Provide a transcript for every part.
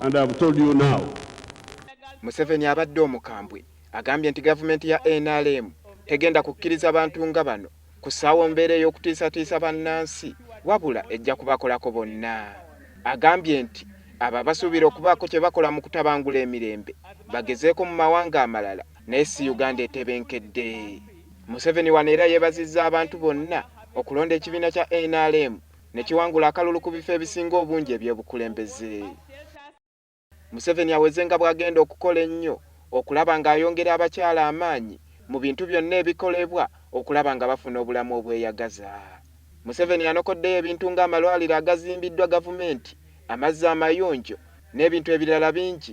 and I've told you now. Museveni abadde omukambwe agambye nti gavumenti ya nrm tegenda kukkiriza bantu nga bano kusaawo mbeera ey'okutiisatiisa bannansi wabula ejja kubakolako bonna. Agambye nti abo abasuubira okubaako kye bakola mu kutabangula emirembe bagezeeko mu mawanga amalala naye si Uganda etebenkedde. Museveni wano era yeebazizza abantu bonna okulonda ekibiina kya nrm ne kiwangula akalulu ku bifo ebisinga obungi eby'obukulembeze. Museveni aweze nga bw'agenda okukola ennyo okulaba ng'ayongera abakyala amaanyi mu bintu byonna ebikolebwa okulaba nga bafuna obulamu obweyagaza. Museveni anokoddeyo ebintu ng'amalwaliro agazimbiddwa gavumenti, amazzi amayonjo n'ebintu ebirala bingi.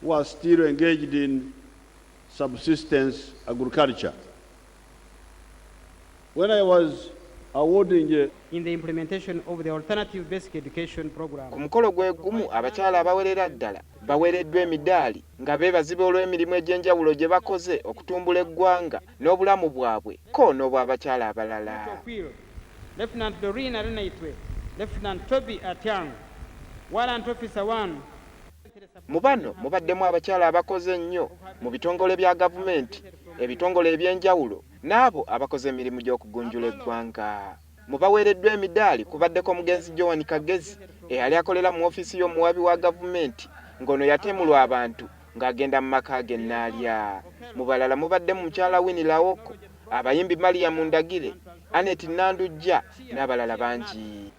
who are still engaged in subsistence agriculture. When I was awarding a in the implementation of the alternative basic education program. Ku mukolo gwe gumu abakyala abawerera ddala bawereddwa emidaali nga beebaziba olw'emirimu egy'enjawulo gye bakoze okutumbula eggwanga n'obulamu bwabwe ko n'obw'abakyala abalala. Lieutenant Doreen Arenaitwe, Lieutenant Toby Atyang, Warrant Officer 1, Mu bano mubaddemu abakyala abakoze ennyo mu bitongole bya gavumenti, ebitongole eby'enjawulo n'abo abakoze emirimu gy'okugunjula eggwanga. Mu baweereddwa emidaali kubaddeko omugenzi Joan Kagezi eyali akolera mu ofiisi y'omuwaabi wa gavumenti ng'ono yatemulwa abantu ng'agenda mu maka ge Naalya. Mu balala mubaddemu mukyala Winnie Laoko, abayimbi Mariam Ndagire, Annet Nandujja n'abalala bangi.